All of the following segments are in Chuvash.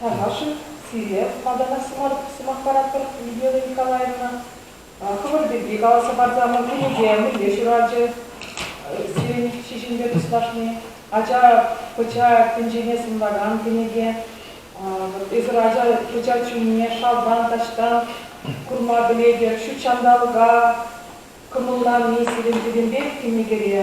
Паша-ши? Сире малтанах сӑмах паратпӑр, Людмила Николаевна. Хӑвӑр пирки каласа парса ман кӗнеке мӗнле ҫуралчӗ сирӗн ҫиҫӗмпе туслашни? Ача пӑча тӗнчене сӑнлакан кӗнеке. Эсир ача пӑча чунне шалтан, таҫтан курма пӗлетӗр. Ҫут ҫанталӑка кӑмӑллани сирӗн пӗтӗмпех кӗнекере.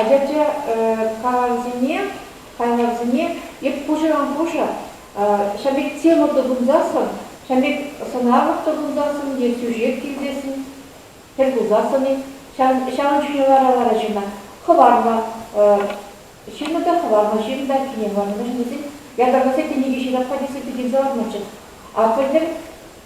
Ача-ача калавӗсене, хайлавсене эп пушӑран-пушӑ ҫав пек тема тупӑнсассӑн, ҫав пек сӑнарлӑх тупӑнсассӑн е тӳшек килсессӗн, тӗл пулсассӑн-и, ҫавӑн чухне лара-лара ҫынна хӑварма ҫыннӑ та хӑварма ҫын та кине хӑварма мӗншӗн тесен ятарласа кӗнеке ҫырап-ха тесе пикенсе ларманччӗ. А пӗлтӗр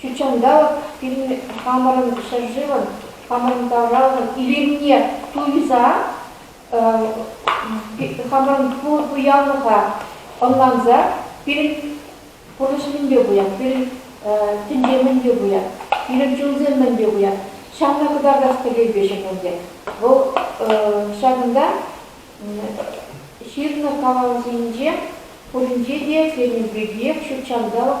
Ҫутҫанталӑк пирӗн хамӑрӑн ҫӗршывӑн, хамӑрӑн тавралӑхӑн илемне туйса хамӑрӑн пуянлӑха ӑнланса пирӗн пурнӑҫ мӗнпе пуян, пирӗн тӗнче мӗнпе пуян, пирӗн чунсем мӗнпе пуян, ҫавна кӑтартас тӗллевпе ҫырнӑ Вӑл ҫакӑнта ҫырнӑ калав ҫинче пуринче те сирӗн пиркиех ҫутҫанталӑк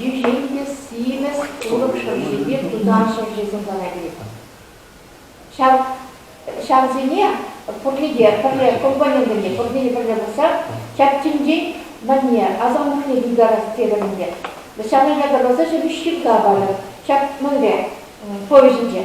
Йӳҫен те симӗс улӑп шӑршипе тутар ҫӑвҫисем ларать. Ҫав, ҫавсене пурне те пӗрле компонентсене пурне те пӗрле пырса ҫак тӗнчен мӗнне, асамлӑхне тултарас терӗм ӗнтӗ. Ҫавна ятарласа ҫӗнӗ ҫырта парӑр. Ҫак мӗнле повеҫӗнче?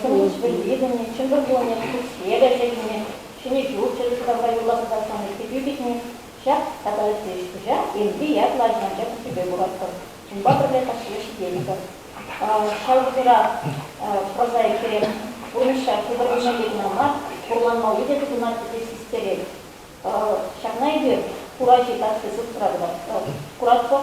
Сывлӑш-вӗри витӗмне, чӑнкӑ кулӑмне, туссне те ӗҫе-хӗлне, ҫӗнӗ ҫурт чӑрӑштарса юрласа каҫсан ыттипе пикни, ҫак тата ытти ӗҫ-пуҫа Энтри ятлӑ ача-ӑнча тӗспӗпе куратпӑр, унпа пӗрле каҫхине ҫитетпӗр. Ҫав вӑхӑтра прозаиксем пурнӑҫа тутӑрӑнмалли кӑна мар, хурланмалли те тытӑнаҫҫӗ те систерет. Ҫакна эпир Хураҫи касси сустра тӑвать. Куратпӑр,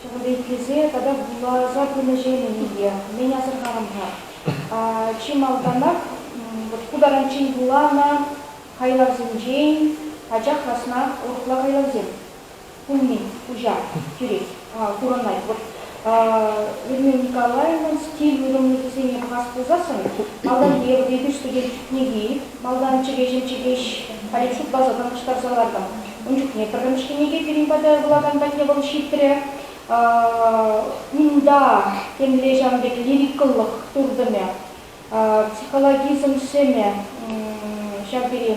Пӗрлехлесе тата вуласа пынӑҫемӗн те мӗн асӑрхарӑм-ха? Чи малтанах ку таранччен вуланӑ хайлавсенчен пачах раснах урӑхла хайлавсем пулни куҫа кӳрет, курӑнать. Вӑт Эрмем Николаевӑн стиль уйрӑмлӑхӗсене пӑхас пулсассӑн малтан Еврипе Студент кӗнеки, малтан Чӗкеҫӗн Чӗкеҫ Алексей База танлаштарса лартӑм. Ун чухне пӗрремӗшкӗнеке пирӗн пата вулакан патне вӑл ҫитрӗ. Унта темле ҫавӑн пек лирикӑллӑх туртӑмӗ, психологизм сӗмӗ ҫав тери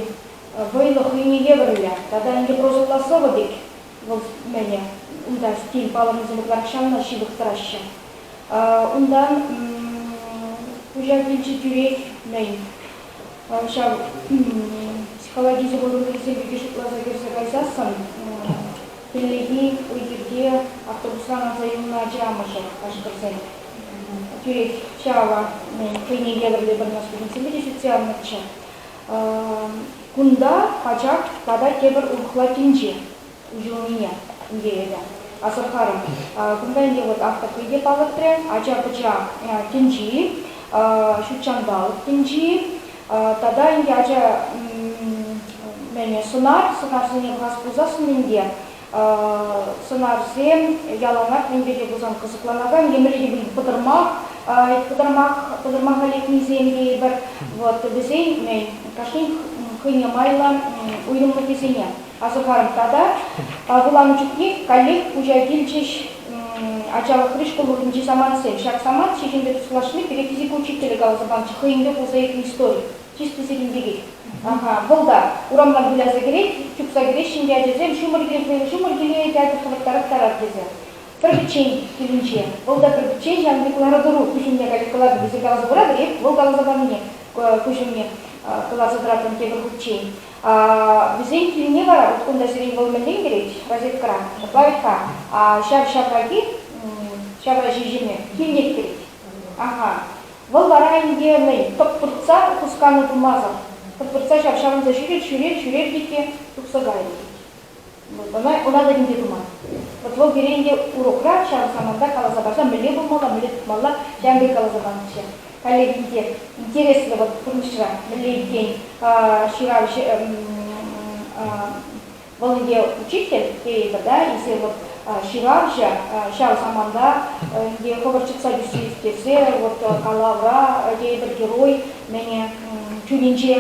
вӑйлӑ хӑйне евӗрлӗ. Тата ӗнтӗ прозӑлла сӑвӑ пек вӑл мӗнӗ. Унта стиль палӑрнисем ытларах ҫавна ҫывӑх тӑраҫҫӗ. Унтан куҫа килчӗ тӳрех мӗн ҫав психологи оборудованийӗсем пирки шутласа кӗрсе кайсассӑн хӗллехи уй-хирте автобусран аса юлнӑ ача амӑшӗ ашкӑрсен тӳрех чава хӑйне евӗрлӗ пӗр ӑна студентсемпе те ҫитсе аннӑччӗ. Кунта ачак тата тепӗр урӑхла тӗнче. уйрӑлнине ӗнтӗ эпӗ асӑрхарӑм. Кунта ӗнтӗ вот ак такой те палӑртрӗ, ача-пӑча тӗнчи, ҫут ҫанталӑк тӗнчи, тата ӗнтӗ ача сӑнар, сӑнарсене курас пулсассӑн ӗнтӗ сӑнарсем яланах мӗн пирки пулсан кӑсӑкланакан емӗрхи пӑтӑрмах, пӑтӑрмах, пӑтӑрмаха лекнисем тейӗпӗр. Вот вӗсен кашнин хӑйне майлӑ уйрӑмлӑхӗсене асӑхарӑм тата вуланӑ чухне каллех куҫа килчӗҫ ачалӑхри шкул урӑхӗнчи самантсем. Ҫак самант Ҫеҫенпе туслашни пире физика учителӗ каласа панӑччӗ хӑйӗнпе пулса иртнӗ истори. Чисти сирӗн пекех. Ага, вӑл та урамран выляса кӗрет, чупса кӗреҫҫӗ ӗнтӗ ачасем, ҫумӑр килсен ҫумӑр киле ячӗ хӑраттараттарать тесе. Пӗрпӗччен килӗнче. Вӑл та пӗрпӗччен ҫавӑн пек лару-тӑру куҫ умне калекалатӑн тесе каласа хуратӑр-и? Вӑл каласа панине куҫ умне кӑларса тӑратӑн тепӗр хутчен. Вӗсен килне вара вот кунта сирен вӑл мӗнле кӗрет розеткӑра, плавика, ҫав ҫавраки, ҫавра ҫиҫӗме килне кӗрет. Ага. Вӑл вара ӗнтӗ ней тӑп-туртса хусканӑ тумасӑр, тӑп-туртса ҫав ҫавӑнса ҫӳрет, ҫӳрет, ҫӳрет те тухса кайрӗ. Ӑна ӑна та тӗнче туман. Вӑт вӑл пире ӗнтӗ урокра ҫав саманта каласа парса мӗнле пулмалла, мӗнле тытмалла ҫавӑн пек каласа панӑччӗ. Коллеги те интереслӗ вӑт пурнӑҫра мӗнле иккен ҫырав вӑл ӗнтӗ учитель тейӗпӗр да эсир вот ҫыравҫӑ ҫав саманта ӗнтӗ хӑвӑр чӑтса тӳссе ирттерсе вот калавра тейӗпӗр герой мӗне чунӗнче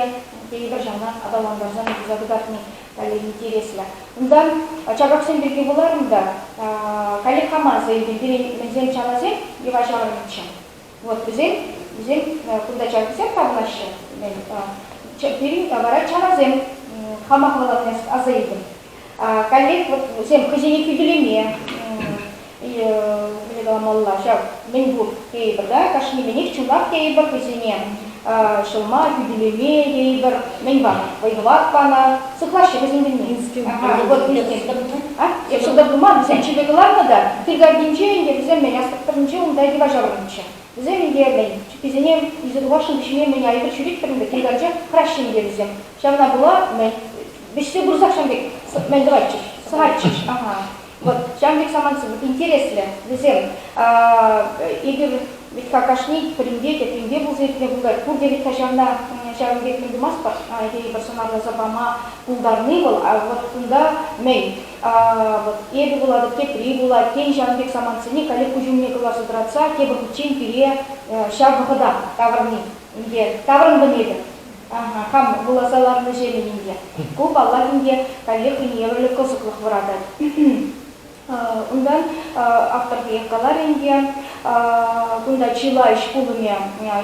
тейӗпӗр ҫавна аталантарса тухса кӑтартни Валерий интереслӗ. Унтан чабаксем пирки вуларӑм та, Каллех хаман сӑйӗпе пирӗн мӗнсем чаласем йӑва ҫаврӑннӑччӗ. Вот вӗсем, вӗсем кунта чалкисем тапӑнаҫҫӗ, пирӗн вара чаласем хама хӑваланас аса илтӗм. Каллех вот вӗсем хӑйсене хӳтӗлеме, мӗне каламалла ҫав мӗнпур тейӗпӗр да кашнийӗнех чӑнах тейӗпӗр вӗсене ҫӑлма хӳтӗлеме тейӗпӗр мӗн вӑй-хӑват панӑ сыхлаҫҫӗ вӗсен тӗлне ҫӑлтӑр мар вӗсем чипер кӑларнӑ та кил картинче ӗнтӗ вӗсем мӗн аспект тӑрӑхӗнче унта йӑва ҫаврӑннӑччӗ вӗсем ӗнтӗ мӗн чӗпписене илсе тухасшӑн вӗҫме мӗн айӑпӑр ҫӳретпӗр ӗнтӗ кил картче хӑраҫҫӗ ӗнтӗ вӗсем ҫавна пула мӗн вӗҫсе пырсах ҫав пек мӗн тӑватчӗҫ сӑхатчӗҫ Вот ҫавӑн пек самант интереслӗ. Вӗсем эпир вӗт-ха кашни пӗринпе, тепринпе пулса иртме пултарать. Пурте вӗт-ха ҫавна ҫавӑн пек мӗн тумастпӑр тейӗпӗр сӑнарласа пама пултарни вӑл. А вот кунта мӗн? Вот эпӗ вулатӑп, тепри вулать. Тен, ҫавӑн пек самантсене коллег куҫ умне кӑларса тӑратса тепӗр хутчен пире ҫав вӑхӑта тавӑрни. Ӗнтӗ таврӑнмӑн эпӗ. хам вуласа ларнӑ ҫемӗн инке. Ку, паллах, инке каллех евӗрлӗ кӑсӑклӑх вӑратать. Унтан автор текех каларӗ инке, кунта чылай ӗҫ пулӑмӗ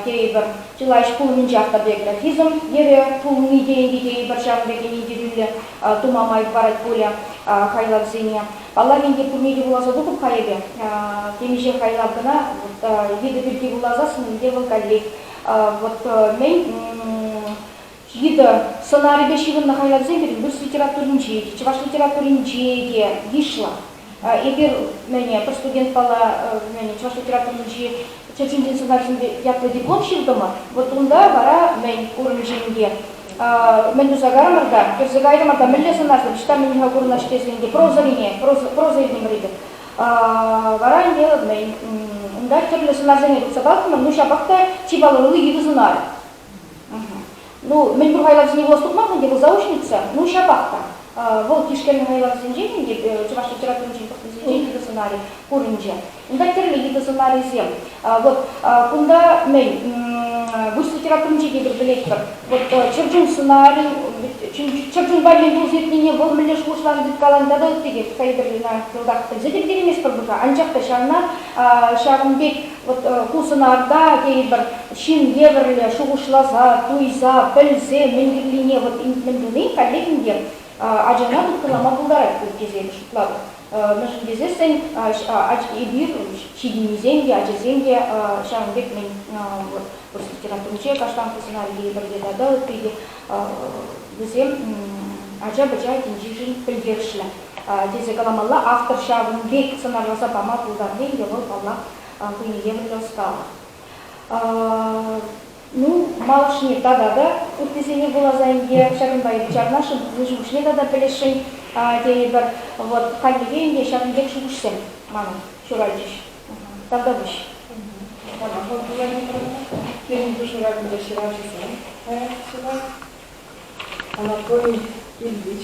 тейӗпӗр. Чылай ӗҫ пулӑмӗнче автобиографизм йӗрӗ пулни тенкӗ тейӗпӗр ҫавӑн пекех индивидуаллӗ тума май парать пулӗ хайлавсене. Паллах, инке пурне те вуласа тухӑп-ха эпӗ. Темиҫе хайлав кӑна вида пирки вуласассӑн ӗнтӗ вӑл каллех вот мӗн йытӑ сӑнарӗпе ҫыхӑннӑ хайлавсем пирӗн рус литературинче, чӑваш литературинче те йышлӑ. Эпир мӗне, пӗр студентпала мӗне, чӑваш литературинчи чӗрчинчен сӑнарсемпе ятлӑ диплом ҫыртӑмӑр, вот унта вара мӗн курӑнчӗ мӗн туса кайрӑмӑр та, кӗрсе кайрӑмӑр та мӗнле сӑнарсем ҫта мӗн-ха курӑнаҫ тесен те прозӑрине, проза, проза илтӗмӗр эпир. Вара ӗнтӗ унта тӗрлӗ сунарсене тупса палхӑмӑр, ну ҫапах та чи палӑрли йытӑ сунар. Ну, мӗн пур хайлавсене вулас тухман ӗнтӗ, вӑл заочница, ну ҫапах та. Вӑл тишкернӗ хайлавсенчен ӗнтӗ, чӑваш литературинчен пӑхнисенчен йытӑ сӑнарӗ курӑнчӗ. Унта тӗрлӗ йытӑ сӑнарӗсем. Вот кунта мӗн выҫ литературинче те пӗлетпӗр. Вот чӗрчун сӑнарӗ, чӗрчунпа мӗн пулса иртнине вӑл мӗнле шухӑшланӑ тыткаланӑ тата ытти те Скайберлина йӑлтах пӗлсе те ӗлкӗрейместпӗр пулса. Анчах та ҫавна ҫавӑн пек вот ку сӑнарта тейӗпӗр ҫын евӗрлӗ шухӑшласа, туйса, пӗлсе мӗн кирлине вот мӗн туни каллех ӗнтӗ ачана тыткӑнлама пултарать тесе шутлатӑп. Мӗншӗн тесессӗн эпир ҫитӗннисем те, ачасем те ҫавӑн пек мӗн вырӑс литературинче каштанлӑ сценарий тейӗпӗр те тата ытти те вӗсем ача-пӑча тӗнчишӗн пӗлтерӗшлӗ тесе каламалла. Автор ҫавӑн пек сӑнарласа пама пултарни те вӑл, паллах, хӑйне евӗрлӗ ӑсталӑх. Ну, малашне тата та ыттисене вуласа ӗнтӗ, ҫакӑнпа и чарнашӑн, пурнӑҫ укҫине тата пӗлесшӗн тейӗпӗр. Вӑт, хальлӗхе ӗнтӗ ҫакӑн пек шухӑшсем мана ҫуралчӗҫ. Тавтапуҫ. Пирӗнпе ҫуратнӑ ҫыравҫӑсем паян ҫырать. Анатолий Ильич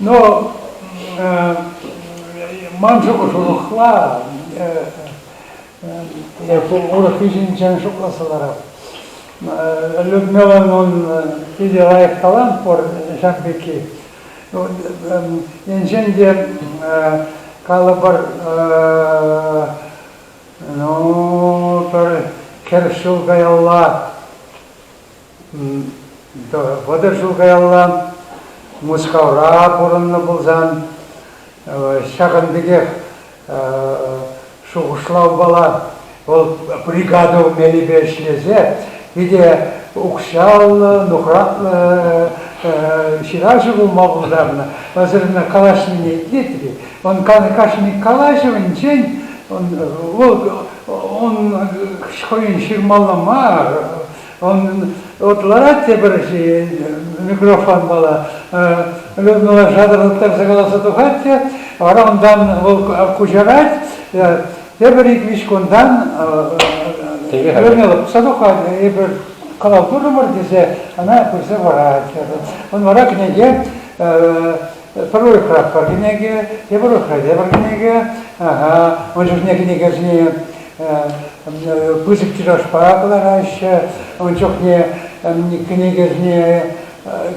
Но ман шухӑшлӑхла эпӗ урӑх ӗҫӗнчен шутласа ларам. Людмиланӑн питӗ лайӑх талант пур ҫак пекки. Енчен те калӑпӑр, ну, пӗр хӗр ҫул каялла вӑтӑр ҫул каялла Мускавра пурӑннӑ пулсан, ҫакӑн пекех шухӑшлавпала вӑл бригаду мелӗпе ӗҫлесе питӗ укҫаллӑ, нухратлӑ ҫыравҫӑ пулма пултарнӑ. Пасарна калаҫнине итлетӗр-и? Он кашни калаҫӑвӗнчен он, вӑл он хӑйӗн ҫырмалла мар Он, вот ларать пӗрчи микрофон мала Людмила шатӑрлаттарса каласа тухать те, вара унтан вӑл куҫарать, тепӗр ик-виҫ кунтан Людмила пӑса тухать, эпир калав турӑмӑр тесе ана пырса парать. Он вара кӗнеке Пӗр урӑхра пӗр кӗнеке, тепӗр урӑхра тепӗр кӗнеке. Ун чухне кӗнекесене пысӑк тиражпа кӑлараҫҫӗ. Ун чухне кӗнекесене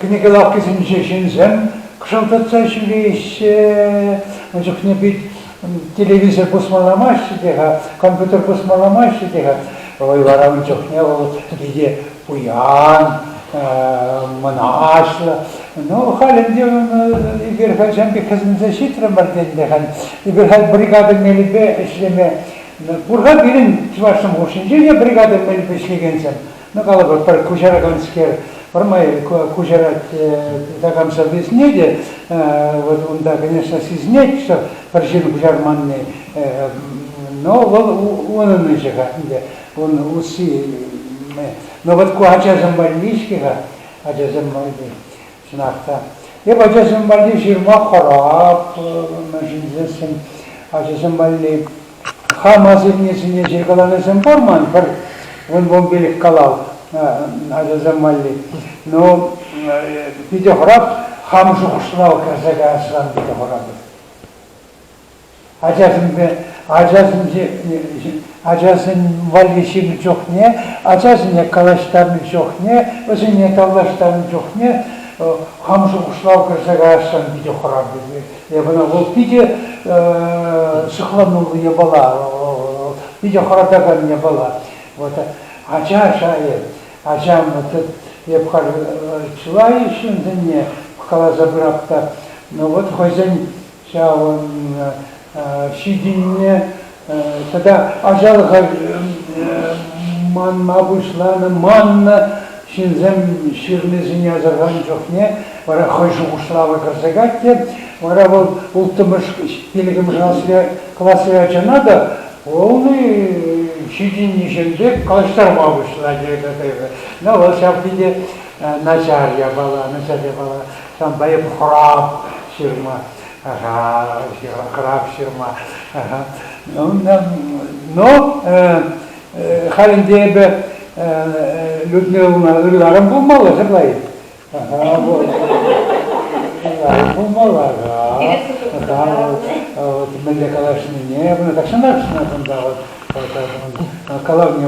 кӗнеке лавккисенчи ҫынсем кӑшӑлтатса ҫӳреҫҫӗ. Ун чухне пит телевизор пусмаламаҫҫӗ те-ха, компьютер пусмаламаҫҫӗ те-ха. Вӑй вара ун чухне вӑл питӗ пуян, мӑнаҫлӑ. Ну, халь ӗнтӗ ун эпир хальччен пек хӗсӗнсе ҫитрӗмӗр те ӗнтӗ халь. Эпир халь бригада мелӗпе ӗҫлеме пур-ха пирӗн чӑвашсем хушшинче те бригада мелӗпе ӗҫлекенсем. Ну, калӑпӑр, пӗр куҫараканскер пӗрмай куҫарать такам сӑвви сӗнет вот унта, конечно, сисӗнет, что пӗр ҫын куҫарманни, но вӑл унӑн ӗҫӗ-ха ӗнтӗ, ун усси. Но вот ку ачасем валли-ҫке-ха, ачасем валли. Чӑнах та. Эп ачасем валли ҫырма хӑраплӑ, мӗн ҫӗнтерсен ачасем валли хам асаннесене ҫыркаланисем пур ман пӗр вунпумпилӗк калав ачасем валли. Но питӗ хӑрап, хам шухӑшран кайса каясран питӗ хӑрапӑр. Ачасемпе ачасен валли ҫинӗ чухне, ачасене калаҫтарнӑ чухне, вӗсене тавлаштарнӑ чухне хам шухӑшлав кӗрсе каясшӑн питӗ хурав тесе. Эпӗ вӑл питӗ сыхлануллӑ япала, питӗ хӑратакан япала. Вот ача шайӗ, ачам, вот эп халь чылай ҫынсене каласа пырап та, но вот хӑйсен ҫавӑн ҫитӗннӗ тата ачалӑха манма пуҫланӑ, маннӑ ҫынсем ҫырнисене асӑрханӑ чухне вара хӑй шухӑшлавӗ кӗрсе кать вара вӑл улттӑмӗш пилӗкмӗш класри, класри ачана та вӑл ҫитӗннӗҫем пек калаҫтарма пуҫлать эпӗ. вӑл ҫав те начар япала, начар япала. Ҫавӑнпа эп хӑрап ҫырма, хӑрап ҫырма. Но халь ӗнтӗ эпӗ Людмилӑна ырларӑм пулмалла сӑрлай. Ырларӑм пулмалла. Вот мӗнле калаҫнине, вона так шанашна кунта вот калавне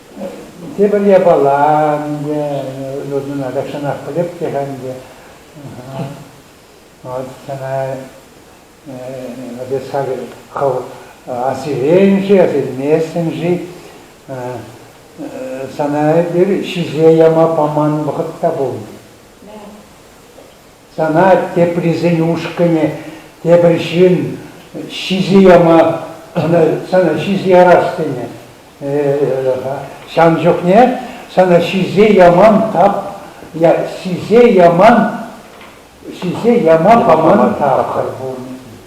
Тепӗр япала ӗнтӗ, нужнӑна тахҫанах пӗлеп те-ха ӗнтӗ. Вот сана эс хакӑр хӑв асилен-ши, асилместӗн-ши? Сана эпир ҫисе яма паман вӑхӑт та пулнӑ. Сана теприсен ушкӑнӗ, тепӗр ҫын ҫисе яма, ӑна, сана ҫисе ярас тенӗ. Ҫав чухне сана ҫисе яман тап, ҫисе яман, ҫисе яма паман тапхӑр пур.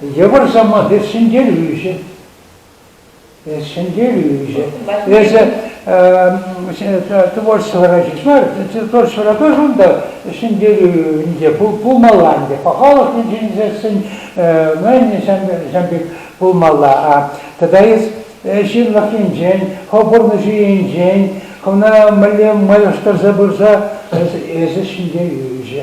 Йывӑр сӑмах, эс ҫӗнтерӳҫӗ. Эс ҫӗнтерӳҫӗ. Эсӗ творчествӑра ҫеҫ мар, творчествӑра тоже унта ҫӗнтерӳ пулмалла ӗнтӗ. Пахалӑхлӑ ҫӗнтерсен, ҫам пек пулмалла. А тата эс ҫынлӑхӗнчен, хӑв пурнӑҫу енчен хӑвна мӗнле майлаштарса пырса эсӗ ҫӗнтерӳҫӗ.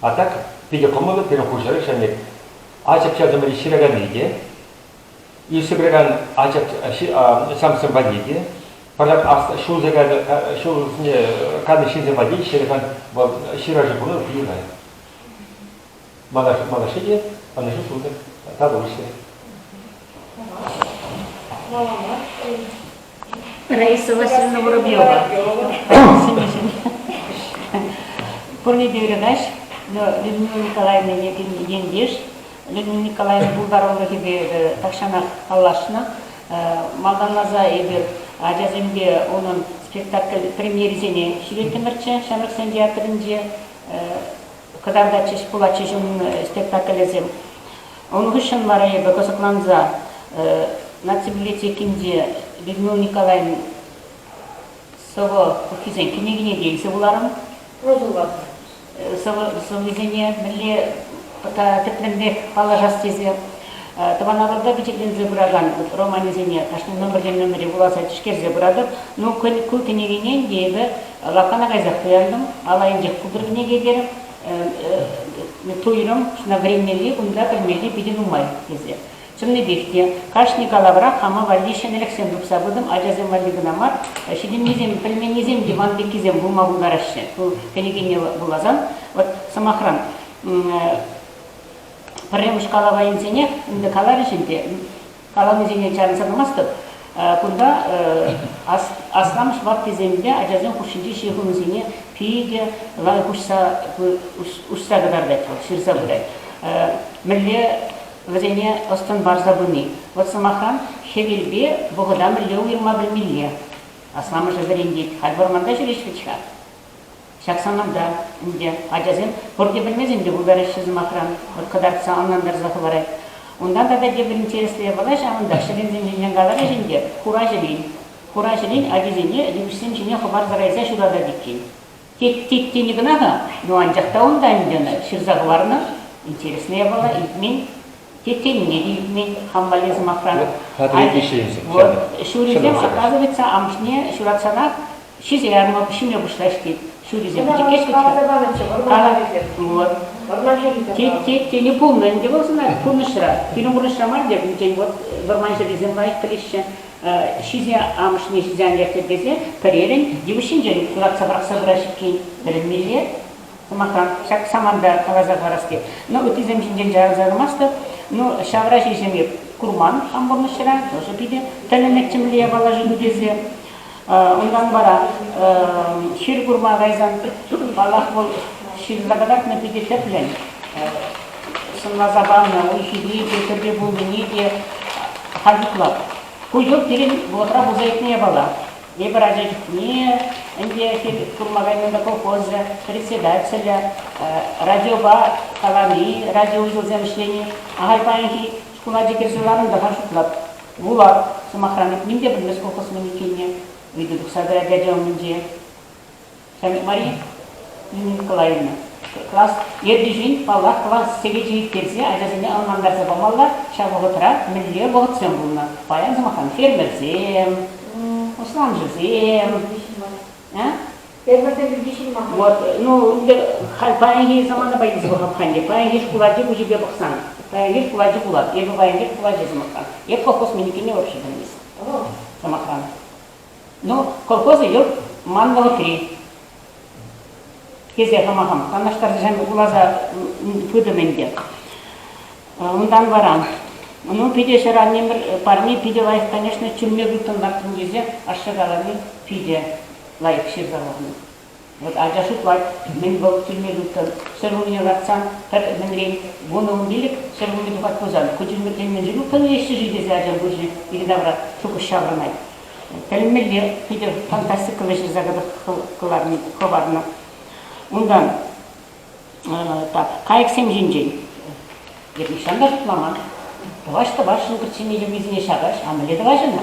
А так питӗ кӑмӑллӑ пирӗн хурҫӑрӑк ҫамрӑк ачӑк-чӗртӗмӗри ҫыраканни те, ӳсӗпрекан ачӑк-чӗмсем валли те, пӑртак ҫул каннӑ ҫынсем валли ҫыракан вӑл ҫыраҫу пулнӑ питӗ лайӑх. Малашне те ӑнӑҫу сунӑр, татӑлӑҫсӑр. Раиса Васильевна Воробьева. Пӑрне передач Людмила Николаевна ентеш. Людмила Николаевна пултарулӑхӗпе тахҫанах паллашнӑ. Малтанласа эпир ачасемпе унӑн спектакль премьерисене ҫӳреттӗмӗрччӗ ҫамрӑксен театрӗнче. Кӑтартатчӗҫ пулатчӗҫ унӑн спектаклӗсем. Ун хыҫҫӑн вара эпӗ кӑсӑкланса Наци библиотекинче Людмила Николаевна сӑвӑ пуххисен кӗнекине те илсе вуларӑм. Сӑвӑсене мӗнле тӗплӗнрех паллашас тесе тӑван Атӑлта пичетленсе пыракан романӗсене кашни номертен номере вуласа тишкерсе пыратӑп. Ну, ку кӗнекене те эпӗ лавккана кайсах кӑялтӑм, ал айӗнчех култӑр кӗнеке терӗм. туйрӑм ҫавна вӗренмелли, унта пӗлмелли питӗ нумай тесе. Чӑннипех те, кашни калавра хама валли ҫӗнӗлӗхсем тупса пытӑм, ачасем валли кӑна мар, ҫитӗннисем, пӗлменнисем диван пеккисем пулма пултараҫҫӗ. Ку кӗнекене вуласан, вот сӑмахран, пӗрремӗш калава илсенех ӗнтӗ каларӗҫ ӗнтӗ, Каланисене чарӑнса тӑмастӑп. Кунта асламӑш ваттисем те ачасем хушшинчи ҫыхӑнусене питӗ лайӑх уҫса кӑтартать вӑл, ҫырса пырать. Мӗнле вӗсене ӑс-тӑн парса пыни. Вӑт сӑмахран, хӗвелпе вӑхӑта мӗнле уйӑрма пӗлмелле. Асламӑшӗ вӗрентет. Халь вӑрманта ҫӳреҫҫӗ-ха. Ҫак саманта ӗнтӗ ачасем пурте пӗлмесен те пултараҫҫӗ сӑмахран, вӑт кӑтартса ӑнлантарса хӑварать. Унтан тата тепӗр интереслӗ япала ҫавӑнтах ҫӗленсем ҫинчен каларӗҫ ӗнтӗ, хура ҫӗлен. Хура ҫӗлен ачисене йывӑҫсем ҫине хӑпарса кайса ҫутатать иккен. Тет-тет тени кӑна-ха, ну анчах та унта ӗнтӗ ӑна ҫырса хӑварнӑ. Интереслӗ япала, илтмен. тетелне те ӳкмен хамвалли сӑмахран. Вот ҫурисем оказывается амӑшне ҫуратсанах ҫисе ярма ҫиме пуҫлаҫ тет. Ҫурисем тет. Тет, тет, пулнӑ ӗнтӗ вӑл сана пурнӑҫра. Пирӗн пурнӑҫра мар теп, вӗсен вот вӑрман ҫӗрисем лайӑх пӗлеҫҫӗ. Ҫисе амӑшне ҫисе ан лертӗр тесе пӗрерӗн йывӑҫ ҫинчен лартса пӑрахса пырать иккен. Вӗренмелле. сӑмахран, ҫак саманта каласа парас-ки. Ну, ыттисем ҫинчен чарӑнса тӑмастӑп. Ну, ҫавра ҫиҫӗм эп курман хам пурнӑҫра, тоже питӗ тӗлӗнетчӗ мӗнле япала шыв тесе. Унтан вара ҫил курма кайсан, паллах, вӑл ҫилла кӑтартнӑ питӗ тӗплӗн. Сӑнласа панӑ уй-хире те, тӗпе пулнине те халь ытлар. Ку йӑл пирӗн вӑхӑтра пулса иртнӗ япала. Эпир ача чухне ӗнтӗ курма кайнӑ колхозӗ председателӗ, радиопа калани, радиоузелсем ӗҫлени. Ахаль паянхи шкул ачи кӗрсе ларнӑ-тӑха шутлап. Вулап, сӑмахран, ним те пӗлмест колхоз мӗн иккенне. Ыйту тухса тӑрать ача умӗнче. Мария Николаевна, класс ертӳҫин, паллах, класс сехечӗ ирттерсе ачасене ӑнлантарса памалла. Ҫав вӑхӑтра мӗнле вӑхӑтсем пулнӑ? Паян, сӑмахран, фермерсем, усламҫӑсем. Фермерсем пирки ҫын мар. Вот, ну, ӗнтӗ халь паянхи заманапа илсе пӑхам-ха ӗнтӗ. Паянхи шкул ачи куҫӗпе пӑхсан, паянхи шкул ачи пулат. Эпӗ паянхи шкул ачи, сӑмахран, эп колхоз миникине вообще пӗлместӗм, сӑмахран. Ну, колхоз ют ман вӑхӑтри, тесе хама-хам канашларсем вуласа пытӑм ӗнтӗ. Унтан вара, ну, питӗ ҫӗр аннемӗр парне питӗ лайӑх, конечно, чӳлме тытӑнлартӑм тесе ашшӗ калани питӗ лайӑх ҫырса хӑварнӑ. Вӑт ача шутлать, мӗн вӑл тӳлме тыттӑн, сӗр умне лартсан, пӗр ӗмӗнрен вунӑ ун пилӗк сӗр умне тухать пулсан, ку тӳлмӗртен мӗншӗн упранместчӗ-ши тесе ачан пуҫӗ икӗ тавра шухӑш ҫаврӑнать. Пӗлмелле, Питӗр фантастика вӗҫӗрсе кӑларни хӑварнӑ. Унтан так, кайӑксем ҫинчен эп нихҫан та шутламан. Тӑваҫ-тӑвашшӑн кӗртсене йӑвисене ҫакаҫ, а мӗнле тӑваҫ ӑна?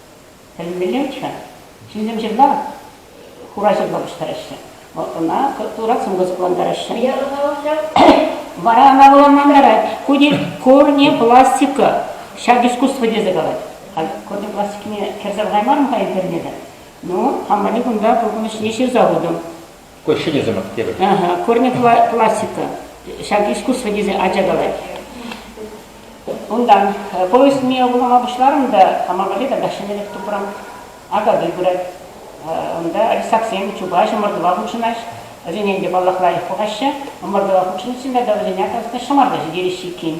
Тӗлӗнмелле-ччӗ. Ҫынсем ҫырла, хура ҫырла пуҫтараҫҫӗ. Вӑл ӑна турат сумка сыхлантараҫҫӗ. Паян ӑна вӑлчать. Вара ӑна вӑланлантарать. Ку тет корнепластика. Ҫак искусство тесе калать. Халь корнепластикине кӗрсе пӑхаймарӑм-ха интернета. Ну, хамӑрне кунта пуркӑнӑҫне ҫырса хутӑм. ҫӗнӗсемех терӗ. Корни классика, ҫак искусство тесе ача калать. Унтан повесть мие вулама пуҫларӑм та хама валли тата ҫӗнӗрех тупрӑм. Акатуй пырать. Унта рисаксем чупаҫ ӑмӑртӑва хутшӑнаҫ. Вӗсене ӗнтӗ паллах лайӑх пӑхаҫҫӗ. Ӑмӑртӑва хутшӑниччен тата вӗсене, оказывается, ҫӑмарта ҫитереҫҫӗ иккен.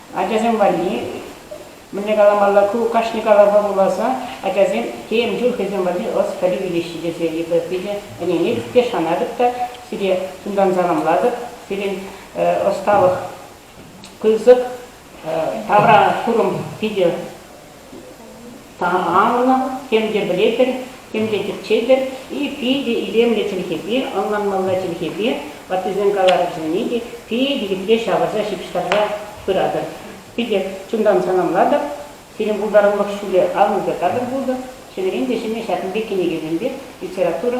ачасем валли мӗнле каламалла, ку кашни калавпа вуласа ачасем тем чуль хӑйсем валли ӑс пӗлӳ илеҫҫӗ тесе эпир питӗ ӗненетӗп те шанатӑп та сире чунтан саламлатӑп. Сирӗн ӑсталӑх пысӑк, тавра курӑм питӗ Таалӑх, тем те пӗлетӗр, тем те тӗпчетӗр, и питӗ илемлӗ чӗлхепе, ӑнланмалла чӗлхепе ваттисен калавӗсене те питӗ епле ҫавӑрса-ҫыпҫтарса пыратӑр. Питӗ чунтан саламлатӑп, сирӗн пултарулӑх ҫулӗ аллипе катӑр пултӑр, ҫӗнӗрен те ҫӗнӗ ҫакӑн пек кӗнекесемпе литература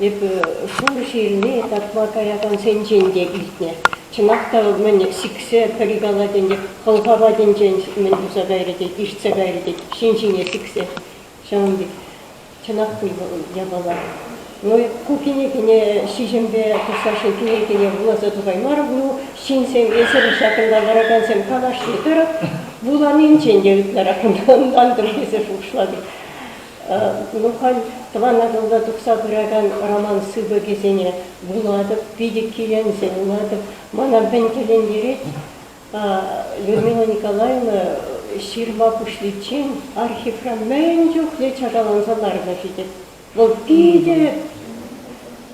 Эпӗ Шурши илни татма каякансенчен те илтнӗ. Чӑнах та мӗн сиксе пӗри калатӗн те хӑлха патӗнчен мӗн туса кайрӗ тет, ишсе кайрӗ тет, ҫын ҫине сиксе. Ҫавӑн пек чӑнах пуль япала. Ну, ку кӗнекене ҫиҫӗмпе тухса ҫын тӳрекене вуласа тухаймарӑм. Ну, ҫынсем, эсир ҫакӑнта ларакансем калаҫни тӑрӑх, вуланинчен те ытларах мантӑм тесе шухӑшлатӑп. Улӑхан тӑван Атӑлта тухса пыракан роман сыпӑкӗсене вулатӑп, питӗ киленсе вулатӑп. Мана мӗн тӗлӗнтерет, Людмила Николаевна ҫырма пуҫличчен архивра мӗн чухлӗ чакаланса ларнӑ-ши Вӑл питӗ,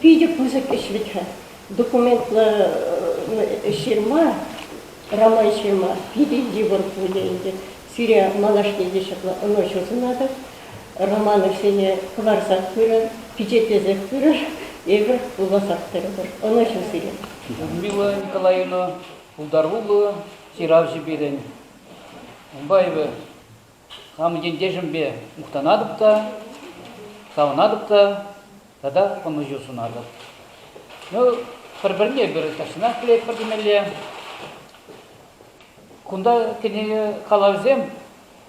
питӗ пысӑк ӗҫ вӗт-ха. Документлӑ ҫырма, роман-ҫырма питӗ йывӑр пулӗ ӗнтӗ. Сире малашне те ҫапла ӑнӑҫу сунатӑп. Романовсене кӑларсах пырӑр, пичетлесех пырӑр, эпӗр вуласах тӑрӑпӑр. Ӑнӑҫу сире! Людмила Николаевна, пултаруллӑ ҫыравҫӑ пирӗн. Унпа эпӗ хамӑн ентешӗмпе мухтанатӑп та, савӑнатӑп та тата ӑнӑҫу сунатӑп. Ну, пӗр-пӗрне пӗр тахҫанах пӗлетпӗр темелле. Кунта кӗнеке калавӗсем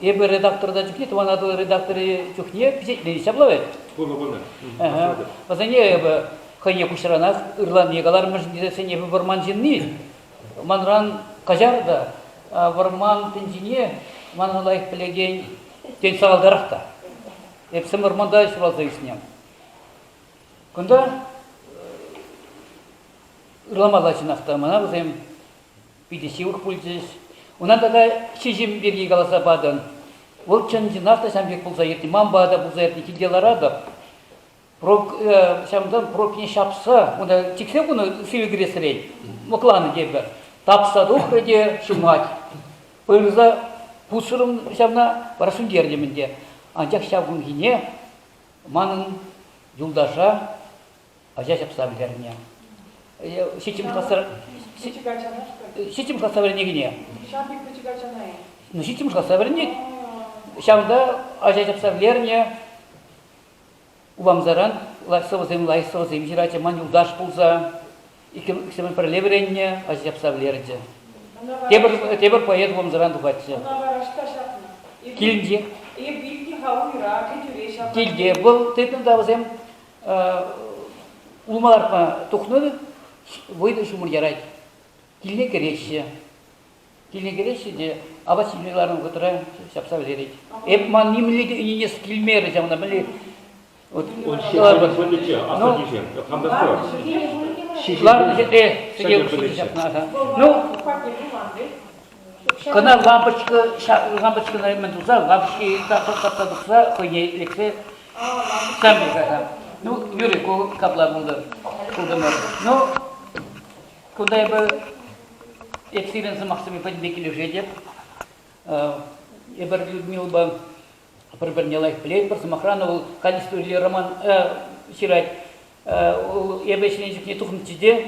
эпӗ редакторта чухне, Тӑван Атӑл редакторӗ чухне пичетлени ҫапла вӗт. Пынӑ, пынӑ. Вӗсене эпӗ хӑйне куҫранах ырланне калармӑшӑн тесе сен эпӗ вӑрман ҫынни. Манран каҫар та, вӑрман тӗнчине манран лайӑх пӗлекен тен сахалтарах та. Эп сӗм вӑрманта ҫуралса ӳснӗ. Кунта ырламалла чӑнах та мана вӗсем питӗ ҫывӑх пулчӗҫ. Ӑна тата ҫиҫӗм пирки каласа патӑн. Вӑл чӑн-чӑнах та ҫам пек пулса иртнӗ. Манпа та пулса иртнӗ, килте ларатӑп. Прок, ҫавӑнтан пробкине ҫапса унта чиксе хунӑ сивӗ кӗресрен лӑкланӑ тепӗр. Тапса тухрӗ те ҫумать. Пырса пусрӑм ҫавна, вара сӳнтертӗм ӗнтӗ. Анчах ҫав кунхине манӑн юлташа ача ҫапса вӗлернӗ. Ҫиччӗмӗш класра ҫиччӗмӗш класра вӗренекене. Ҫавӑн пек пӗчӗк ачана-и? Ну, ҫиччӗмӗш класра вӗренет. Ҫавӑнта ача ҫапса вӗлернӗ. Уламсаран сӑвӑсем, лайӑх сӑвӑсем ҫыратчӗ. Ман юлташ пулса иксӗмӗр пӗрле вӗреннӗ, ача ҫапса вӗлерчӗ. Тепӗр, тепӗр поэт Уламсаран тухатчӗ. Ӑна вара ӑҫта ҫапнӑ? Килте. Эп вилнӗ-ха уйра, кӗтӳре ҫапнӑ. Килте. Вӑл тытнӑ та вӗсем Улмарпа тухнӑ вӑйлӑ ҫумӑр ярать. Килне кӗреҫҫӗ. Килне кӗреҫҫӗ те апат ҫимӗҫ ларнӑ вӑхӑтра ҫапса вӗҫерет. Эп ман нимле те ӗненес килмерӗ ҫавна, мӗнле Ларнӑ ҫӗре сӗте ҫапна. Ну, Кӑна лампочка, лампочкӑна мӗн туса, лампочки катса тухса хӑйне лексе сам пырса. Ну, Юрий, ку капла пултӑр, пултӑмӑр. Ну, кунта эпӗ эп сирӗн сӑмахсемпе пӗтӗмпе килӗшетӗп. Эпир Людмилӑпа пӗр-пӗрне лайӑх пӗлетпӗр. Сӑмахран, вӑл канистӑри роман ҫырать. Эпӗ ӗҫленӗ чухне тухнӑччӗ те,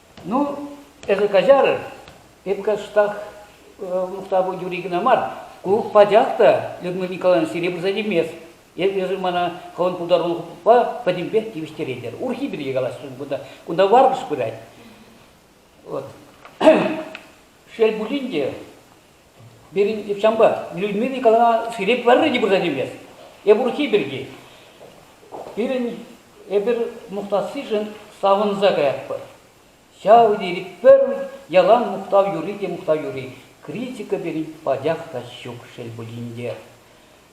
Ну, эсӗ каҫар, эп каҫсах мухтав юри кӑна мар, ку пачах та Людмила Николаевна сире пырса тивмест. Эсӗ мана хӑвӑн пултарулӑхупа пӗтӗмпех тивӗҫтеретӗр. Урхи пирки калаҫрӑн, кунта, кунта варкӑш пырать. Вот. Шел пулин те, Пирӗн Ивҫанпа Людмила Николаевна сире пӗрре те пырса тивмест. Эп урӑххи пирки. Пирӗн эпир мухтассишӗн савӑнса каятпӑр. Ҫав тери пӗр ялан мухтав юри те мухтав юри. Критика пирӗн пачах та ҫук, шел пулин те.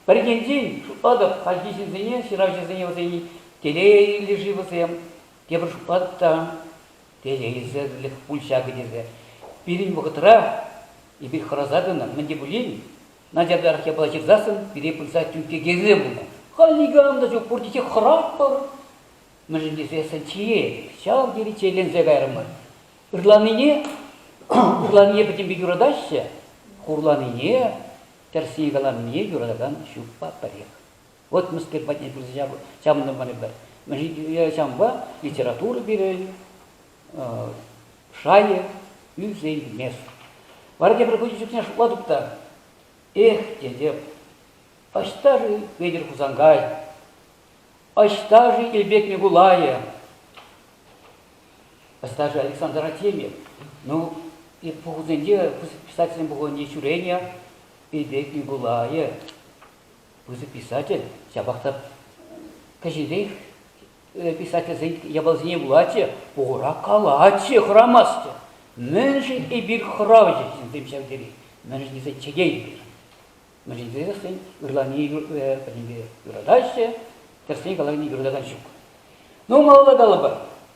Пӗринчен шутлатӑп, хальхи ҫынсене, ҫыравҫӑсене вӗсен телейлӗ-ши вӗсем, тепӗр шутлатӑп та, тесе илсесрех пуль ҫакӑ тесе. Пирӗн вӑхӑтра эпир хӑраса тӑнӑ, мӗн те пулин начартарах япала ҫырсассӑн пире пырса тӳнкке кӗрсе пынӑ. Халь никам та ҫук, пурте те хӑратпӑр. Мӗншӗн тесессӗн чие ҫав тери чирленсе кайрӑмӑр. Ырланине, ырланине пӗтӗмпе юратаҫҫӗ, хурланине, тӗрсне каланине юратакан ҫукпа пӗрех. Отмскер патне пырса ҫавӑнта мар Мӗншӗн ҫавӑнпа литература пирӗн шайӗ ӳссе илмест. Вара тепӗр хутӗ чухне шутладӑп та, эх, тетӗп, ӑҫта-ши Петӗр Хусанкай, ӑҫта-ши Илпек Микулайӗ, ӑста-ши Александр Артемьев, ну, пухусенче, писательсен пухӑвӗнче ҫӳренӗ Илпек Микулайӗ, Пысӑк писатель ҫапах та кӗҫӗнрех писательсен япалисене вулатчӗ, пухура калатчӗ, хӑрамастчӗ. Мӗншӗн эпир хӑравҫӑ ҫынсем ҫав тери? Мӗншӗн тесе чӗтетпӗр? Мӗншӗн тесе хӑйсен ырлавне пӗтӗмпе юратаҫҫӗ, тӗрӗсрен калаканне юратакан ҫук. Ну, малалла калӑпӑр.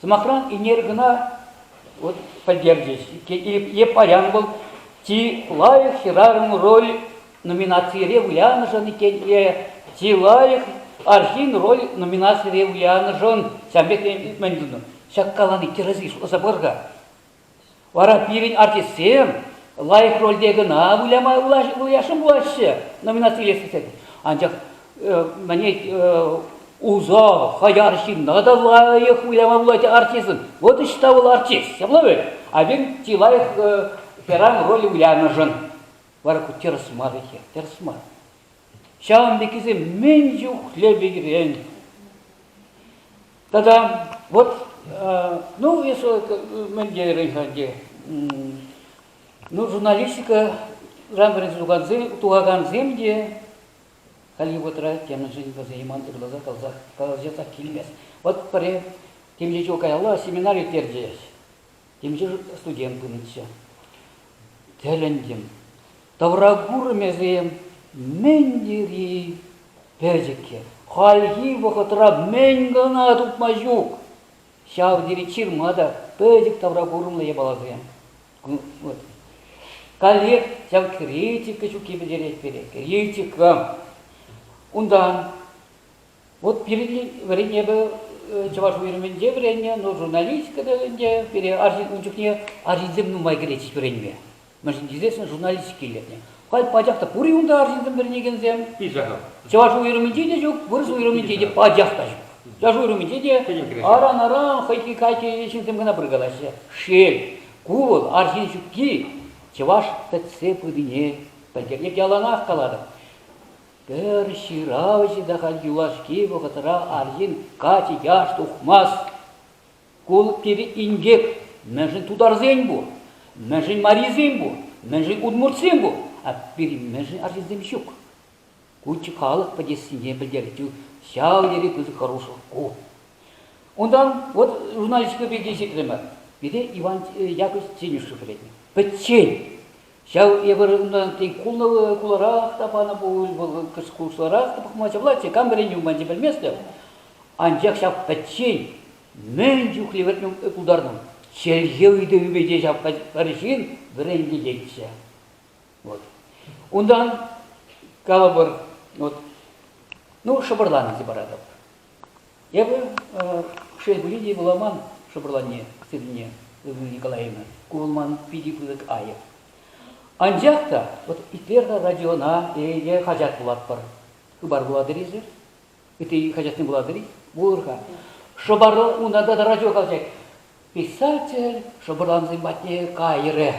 Сӑмахран, ӳнер кӑна вот, пӗлтерчӗҫ. Е паян вӑл чи лайӑх хӗрарӑм роль номинацире вылянӑшӑн иккен, е чи лайӑх арҫын роль номинацире вылянӑшӑн, ҫавӑн пек мӗн тунӑ? Ҫак калани тӗрӗс-и? Шутласа пар-ха. Вара пирӗн артистсем лайӑх рольте кӑна выляма вылясшӑн пулаҫҫӗ номинаци илес тесен. Анчах мӗне усал, хаяр ҫынна та лайӑх выляма пулать артистӑн. Вот ӑҫта вӑл артист, ҫапла вӗт. А пирӗн чи лайӑх хӗрарӑм роль вылянӑшӑн вара ку тӗрӗс мар ӗҫе, тӗрӗс мар. Ҫавӑн пеккисем мӗн чухлӗ пекрен Тата вот, ну, если мы делаем, ну, журналистика тухакансем те Hollywoodра темӗншӗн вӗсен юман ырласа каласа каласа ҫасах килмест. Вот пӗри темле каялла семинар ирттерчӗҫ. Темшӗн студент пынӑччӗ. Тӗлӗнтӗм. Тавра курӑмӗсем мӗн тери пӗчӗккӗ. Хальхи вӑхӑтра мӗн кӑна тупма ҫук. Ҫав тери ҫырма та пӗчӗк тавра курӑмлӑ япаласем. Вот. Коллег ҫав критика ҫукки пӗлтерет пире. Критика. Унтан Вот пирӗн вӗреннӗ эпӗ чӑваш уйрӑмӗнче вӗреннӗ, но журналистика та ӗнтӗ пире арҫын ун чухне арҫынсем нумай кӗретчӗҫ вӗренме. Мӗншӗн тесен журналистика илӗртнӗ. Халь пачах та пур-и унта арҫынсем вӗренекенсем? Пичахов. Чӑваш уйрӑмӗнче те ҫук, вырӑс уйрӑмӗнче те пачах та ҫук. Чӑваш уйрӑмӗнче те аран-аран хӑйхи кайки ҫынсем кӑна пыркалаҫҫӗ. Шел, ку вӑл арҫын ҫукки чӑваш пӗтсе пынине пӗлтерет. Яланах калатӑп, Пӗр ҫыравҫӑ та халь юлашки вӑхӑтра арҫын каччӑ яш тухмасть. Ку пире инкек. Мӗншӗн тутарсен пур, мӗншӗн марисем пур, мӗншӗн удмуртсем пур, а пире мӗншӗн арҫынсем ҫук. Куччӗ халӑх пӗтессине пӗлтерчӗ. Ҫав тери пысӑк хӑрушлӑх ку. Унтан вот журналистика пирки ҫитрӗмӗр. Пире Иван э, Яковлевич Тенюшев пӗлетнӗ. Пӗччен. Ҫав эпир унтан тен хуларах та панӑ пуль, вӑл курсларах та пӑхма чаплать-и, кам вӗренни манчӗ пӗлместӗп. Анчах ҫав пӗччен мӗн чухлӗ вӗренме пултарнӑ. Чӗлхе ыйтӑвӗпе те ҫав пӗр ҫын вӗрентететчӗ. Вот. Унтан калӑпӑр, вот, ну, шӑпӑрланӑ те паратӑп. Эпӗ шел пулин те вуламан шӑпӑрланне сывлине, Людмила Николаевна, ку вӑл ман питӗ пысӑк айӑп. Анчах та вот итлер радиона е хаҫат вулатпӑр. Хыпар вулатӑр-и-ши? Ытти хаҫатсем вулатӑр-и? Вулӑр-ха. Шӑпарла унта та радио калаҫать. Писатель шӑпӑрлансем патне кайрӗ.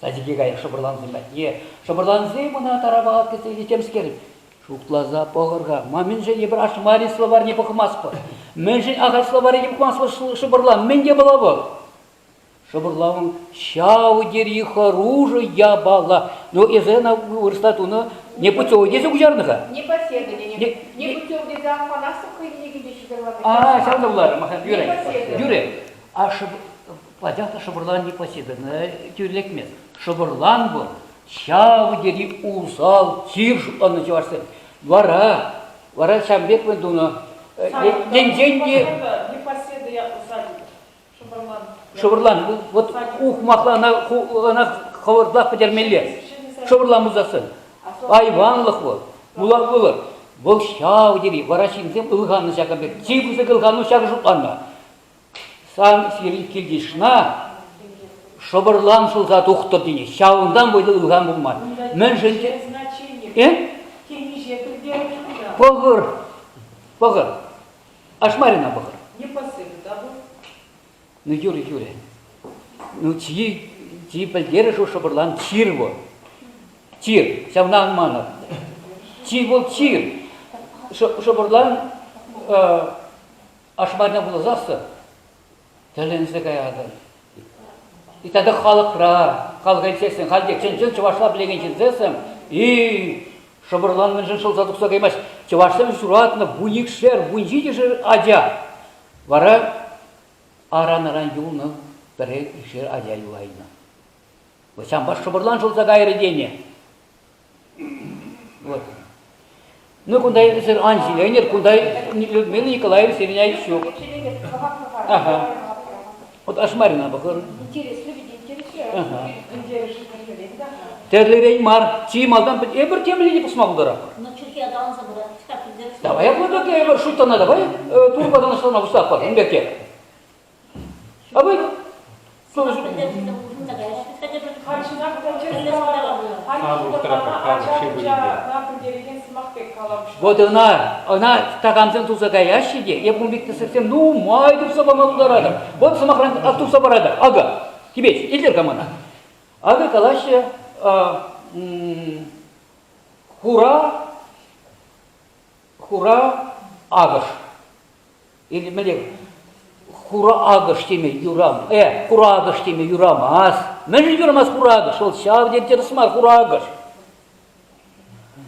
Садике кайӑк шӑпӑрлансем патне. Шӑпӑрлансем ӑна тарапа ат кӗрсе илнӗ темскер. Шутласа пӑхӑр-ха, ма мӗншӗн эпир ашмари словарьне пӑхмастпӑр? Мӗншӗн ахаль словарье пӑхмастпӑр шӑпӑрла? Мӗн те пулав вӑл? Шӑпӑрлавӑн ҫав тери хӑрушӑ япала. Ну, эсӗ ӑна вырӑсла тунӑ непутевый тесе куҫарнӑ-ха. Непоседование. Непутевый тесе Афанасов хӑйне килте ҫуталанӑ. А, ҫавна куларӑм, юрӗ, юрӗ. А Пачах та шӑпӑрлан Никосиповна тӳрлетмест. Шӑпӑрлан пур, ҫав тери усал чир ӑнӑ чӑвашсен. Вара, вара ҫавӑн пек мӗн тунӑ? Енчен те... Непоседа я усадьба. Шӑпӑрлан. Шӑпӑрлан. Вот ухмахла ӑна, ӑна хӑвӑртах пӗтермелле. Шӑпӑрлан пулсассӑн. Айванлӑх вӑл. Пулар пулӑр. Вӑл ҫав тери, вара ҫынсем ылханнӑ ҫакӑн пек. Чи пысӑк ылхану ҫакӑ шутланнӑ. Сан сирӗн килйышна шӑпӑрлан шӑлса тухтӑр тени ҫавӑнтан вӑйлӑ ылхан пулман. Мӗншӗн те... Э? Темиҫе пӗлтерӗш пуян. Пӑхӑр, пӑхӑр. Ашмарина пӑхӑр. Не посыпь, да вӑл? Ну, Юрий Юрий, ну, чьи, чьи пӗлтерӗш у шӑпӑрлан чир вӑл. Чир, ҫавна ан манӑр. Чи вӑл чир. Шӑпӑрлан э, Ашмарина вуласассӑн тӗлӗнсе каятӑн. Тата халӑхра, халӑха илсессӗн, халь те чӑн-чӑн чӑвашла пӗлекен ҫынсессӗн, и шӑпӑрлан мӗншӗн шӑлса тухса каймасть. Чӑвашсем ҫуратнӑ вун икшер, вун ҫичӗшер ача. Вара аран-аран юлнӑ пӗрер икшер ача юлайнӑ. Вӑл ҫампа шӑпӑрлан шӑлса кайрӗ тенӗ. Вот. Ну кунта эсир ан ҫиленӗр, кунта Людмила Николаевна сирӗн ҫук. Ага. Вот Ашмарина похоже. Интереслӗ ведь интереслӗ. Ага. Терлерен мар, чи малтан эпир темле пусма булдара. Ну, Чехияда анса братишка, Давай я буду эпир шуттана давай турбадан астана выстапа, беке. Абый, солнышко. Вот она, она такамсем туса каяҫҫӗ те, эпун пек тесексем нумай турса пама пултаратӑр. Вот сӑмахран ас турса паратӑр. Ага, тебе илтер камана. Ага калаҫҫӗ хура, хура агыш. Мӗне хура акӑш теме юрам, э, хура акӑш теме юрамас. Мӗншӗн юрамас хура акӑш? Вӑл ҫав тери тӗрӗс мар хура акӑш.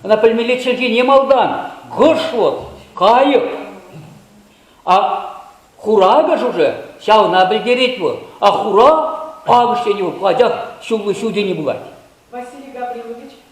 Она пӗлмелле чӗлхене малтан. Кыш вот, кайӑк. А хура акӑш уже ҫавна пӗлтерет вӑл. А хура акӑш тени вӑл, анчах ҫуллы ҫу тени пулать. Василий Гаврилович,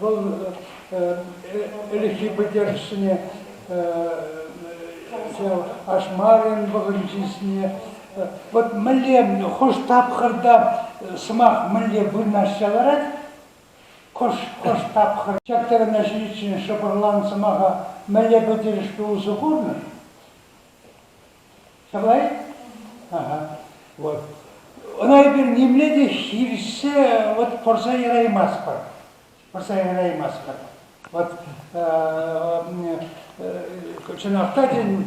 Вӑл ӗлӗкхи пӗлтерӗшсене Ашмарин вӑхӑнчисене вот мӗнле хӑш тапхӑрта сӑмах мӗнле вырнаҫса ларать, хӑш, хӑш тапхӑр ҫак тӗлне ҫитиччен шӑпӑрлан сӑмаха мӗнле пӗлтерӗшпе усӑ курнӑ? Чылай. Вот. Ӑна эпир нимле те хирсе вот пырса яраймастпӑр. Пырса яраймастпӑр. Вот чӑнах та тен,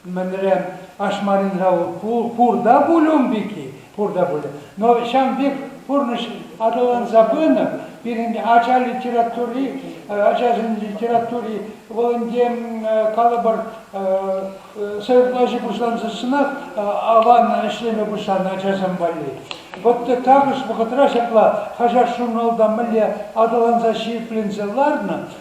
мӗнре ашмаринра пур та пуль ун пирки, пур та пулӗ. Но ҫавӑн пек пурнӑҫ аталанса пынӑ. Пирӗн ача литератури, ачасен литератури вӑл ӗнтӗ калӑпӑр сӑйӑплаҫу пуҫлансассӑнах аван ӗҫлеме пуҫланӑ ачасем валли. Вот також вӑхӑтра ҫапла хаҫат-журналта мӗнле аталанса ҫирӗпленсе ларнӑ,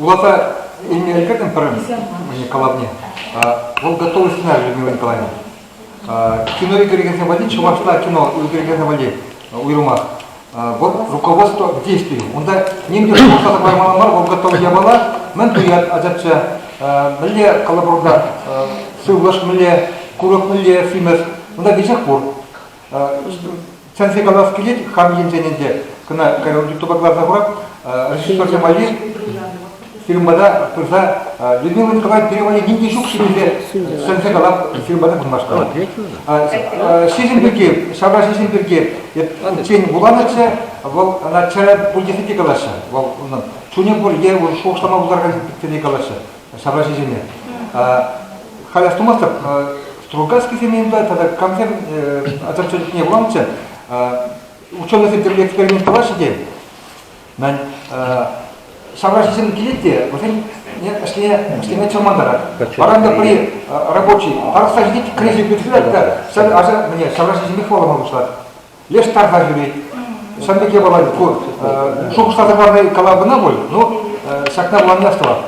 Улата имя кертӗм пӗрин калавне. Вӑл готовый сценарий Людмила Николаевна. Кинори кӳрекенсем валли, чӑвашла кино кӳрекенсем валли уйрӑмах. Вот руководство к действию. Унта ним те шухӑшласа паймалла мар, вӑл готовый япала, мӗн туять ачачча. Мӗнле колоборда сывлӑш, мӗнле курӑк, мӗнле симӗс, унта веҫех пур. Чӗнсе калас килет хам енчен ӗнтӗ, кӑна юттупа кӑларса хурап, режиссерсем валли фильма та пырса Людмила Николаевна пирӗн валли ним те ҫук-ши тесе сӗнсе калап фильма та курмашкала. Ҫиҫӗм пирки, ҫавра ҫиҫӗм пирки тен вуланӑччӗ, вӑл ӑна чӗрӗ пуль тесе те калаҫҫӗ. Вӑл унӑн чунӗ пур е шухӑшлама пултаракан пирки калаҫҫӗ. ҫавраҫисене. Халь астумастӑп, Стругацкисем янтарь тата камсем ачан чечекне вуланччӗ. Ученӑйсем тепре эксперимент тӑваҫҫӗ те. Мен ҫавраҫисем килет те, вӗсен ӗҫлеме чӑрмантарать. Паранта при рабочий тарӑхса ҫитет, кӗреҫе пӳртсем та ҫав ача ҫавраҫисемпе хӑвалама пуҫлать. Леш тарса ҫӳрет. Ҫавӑн пек япала пур. Шухӑшласа парни кала кӑна пуль, но ҫакна вулани астӑвар.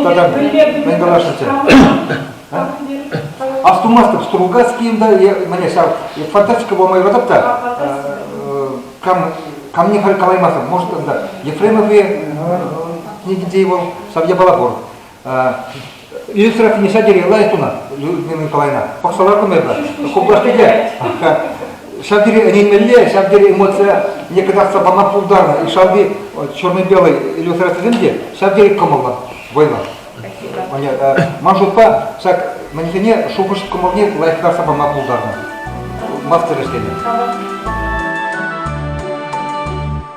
Тата мӗн каласшӑнччӗ? Астумастӑп, Стругацкийым да, мане ҫав, фантастика пулма юратап та, кам, камне халь калаймастӑп, может, анда Ефремов книгинче вӑл, ҫав япала пур. Инстра кнеҫа дере лайт уна, Людмила Николаевна. Пахсалар кунайда. Куплашпике. Ҫав тери ӗненмелле, ҫав тери эмоция некогда сапана пултарнӑ. И шалви черно-белый иллюстрацисем те ҫав тери кӑмӑллӑ война. Ман шутпа, ҫак мӗнсене шухӑш кӑмӑлне лайӑхтарса пама пултарнӑ. Мастер ӗҫлеме.